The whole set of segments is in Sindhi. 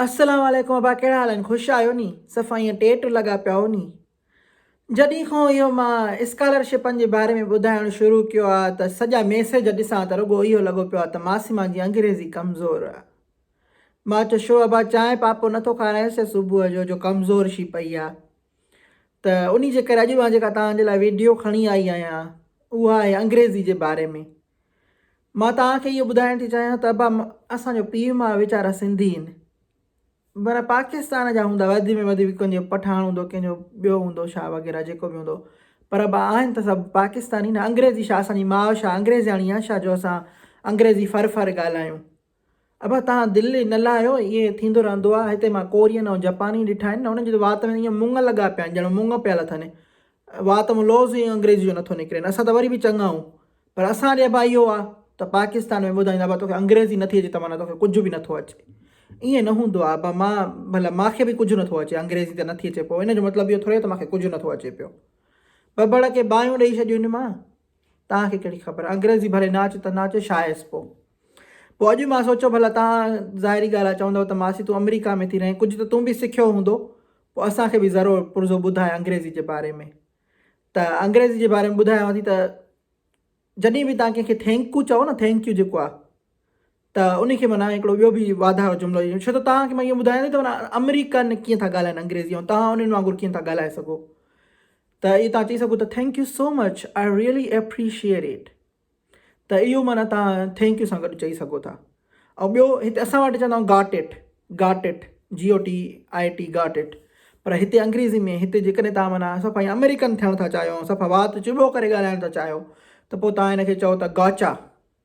السلام عليڪم ابا ڪهڙا حال آهن خوش آهيو ني صفا ائين ٽيٽ لڳا پيا هئو ني جڏهن کان اهو مان اسڪالرشپن جي باري ۾ ٻڌائڻ شروع ڪيو آ ته سڄا ميسيج ڏسان ته رڳو اهو لڳو پيو آ ته معصمه جي انگريزي ڪمزور آ مان چيو شو ابا چانهه پاپو نه ٿو کارائينس ڇا صبح جو جو ڪمزور شي پئي آ ته انهي جي ڪري اڄ مان جيڪا توهان جي لاء ويڊيو کڻي آئي آهيان اها آهي انگريزي جي باري ۾ مان توهان کي اهو ٻڌائڻ ٿي چاهيان ته ابا اسان جو پيء ماء ويچارا سنڌي هين معنيٰ پاڪستان جا هوندا وڌ ۾ وڌ ڪنهن جو پٺاڻ هوندو ڪنهن جو ٻيو هوندو شاهه وغيره جيڪو به هوندو پر ابا آهن ته سڀ پاڪستاني نه انگريزي شاهه اسان جي ماء شاهه انگريزياڻي آهي شاهه جو اسان انگريزي ڦر ڦر ڳالهايون. ابا توهان دل نه لاهيو ائين ٿيندو رهندو آ هتي مان ڪورين ۽ جپاني ڏٺا آهن نه انهن جي ته وات ۾ ائين مڱ لڳا پيا آهن ڄڻ مڱ پيل اٿن وات مان لوظ ائين انگريزي جو نٿو نڪرين اسان ته وري به چڱا آهون پر اسان ڏي ابا اهو آ ته پاڪستان ۾ ٻڌائين ابا توکي انگريزي نٿي اچي ته معنيٰ توکي ڪجهه به نٿو اچي ائين نه هوندو آ ابا مان ڀلا مان کي به ڪجهه نٿو اچي انگريزي ته نٿي اچي پوء ان جو مطلب اهو ٿوري آ ته مان کي ڪجهه نٿو اچي پيو ٻٻڙ کي باهيون ڏئي ڇڏيون مان توهان کي ڪهڙي خبر انگريزي ڀلي نه اچي ته نه اچي شايس پو پو اڄ مان سوچيو ڀلا توهان ظاهري ڳالهه آ چوندو ته ماسي تون امريڪا ۾ ٿي رهين ڪجهه ته تون به سکيو هوندو پو اسان کي به ذرو پرزو ٻڌاء انگريزي جي باري ۾ ته انگريزي جي باري ۾ ٻڌايانو ٿي ته جڏهن به توهان ڪنهن کي ٿينڪ يو چئو نه ٿينڪ يو جيڪو آ ته انهي کي معنيٰ هڪڙو ٻيو به واڌاء جو جملو ڏيو ڇو ته توهان کي مان اهو ٻڌايان ٿي ته معنيٰ آمريڪن ڪيئن ٿا ڳالهائين انگريزي ۽ توهان انهن وانگر ڪيئن ٿا ڳالهائي سگهو ته اهو توهان چئي سگهو ته thank you so much I really appreciate it ته اهو معنيٰ توهان ٿينڪ يو سان گڏ چئي سگهو ٿا ۽ ٻيو هتي اسان وٽ چوندا آهيون گاٽ اٽ گاٽ اٽ جي او ٽي آئي ٽي گاٽ اٽ پر هتي انگريزي ۾ هتي جيڪڏهن توهان معنيٰ صفا ائين آمريڪن ٿيڻ ٿا چاهيو ۽ صفا وات چٻو ڪري ڳالهائڻ ٿا چاهيو ته پوء توهان هن کي چئو ٿا گاچا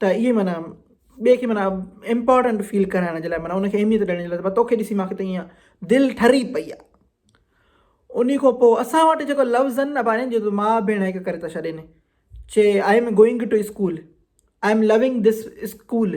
ته اهي معنيٰ ٻئي کي معنيٰ امپارٽنٽ فيل ڪرائڻ جي لاء معنيٰ ان کي اهميت ڏيڻ جي لاء ته توکي ڏسي مانکي ته ايئن دل ٺري پئي آ انهي کان پوء اسان وٽ جيڪو لفظ آهن نه ڀانيجي جو ماء ڀيڻ هڪ ڪري ٿا ڇڏين چي I am going to school I am loving this school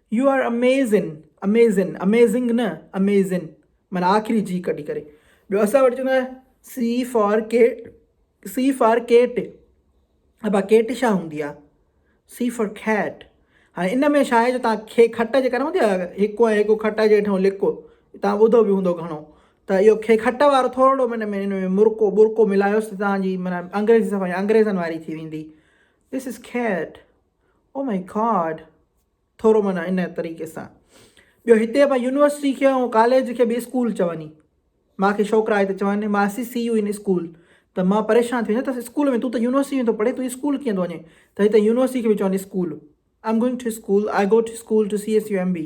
you are Amazon Amazon amazing نه اميزن معنيٰ آخري جي ڪڍي ڪري ٻيو اسان وٽ چوندا C for cat C for cat ابا ڪيٽ شا هوندي آ سي فار کيٽ هاڻي ان ۾ شايد جو تان کي کٽ جي ڪري هوندي آ هڪو ۽ هڪو کٽ جي ٺو لڪو تان ٻڌو به هوندو گهڻو ته اهو کي کٽ وارو ٿورڙو من ۾ ان ۾ مرڪو برڪو ملايوس ته تان جي معنيٰ انگريزي صفا انگريزن واري ٿي ويندي دس از کيٽ او ماء گاڊ ٿورو معنيٰ ان طريقي سان ٻيو هتي مان يونيورسٽي کي ۽ ڪاليج کي به اسڪول چوندي مان کي ڇوڪرا آئي ته چوندي مان see see you in school ته مان پريشان ٿي ويندس اسڪول ۾ تون ته يونيورسٽي ۾ ٿو پڙهي تون اسڪول ڪيئن ٿو وڃين ته هتي يونيورسٽي کي به چوندي school I am going to school I go to school to C S U M B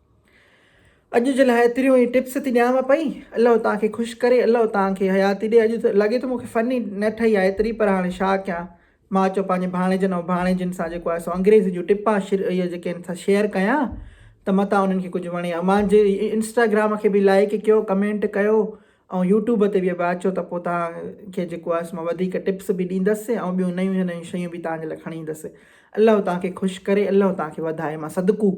اڄ جي لاء ايتريون ئي ٽپس ٿي ڏيانو پئي الله توهان کي خوش ڪري الله توهان کي حياتي ڏي اڄ لڳي ٿو مون کي فني نه ٺهي آ ايتري پر هاڻي ڇا ڪيان مان اچو پنهنجي ڀاڻيجن ۽ ڀاڻيجين سان جيڪو آهي سو انگريزي جون ٽپا شر اهي جيڪي آهن سا شيئر ڪيان ته متان انهن کي ڪجهه وڻي مانجي انسٽاگرام کي به لائڪ ڪيو ڪمينٽ ڪيو ۽ يوٽيوب تي به ابا اچو ته پوء توهان کي جيڪو آهي مان وڌيڪ ٽپس به ڏيندس ۽ ٻيون نيون نيون شيون به توهان جي لاء کڻي ايندس الله توهان کي خوش ڪري الله توهان کي وڌائي مان صدقو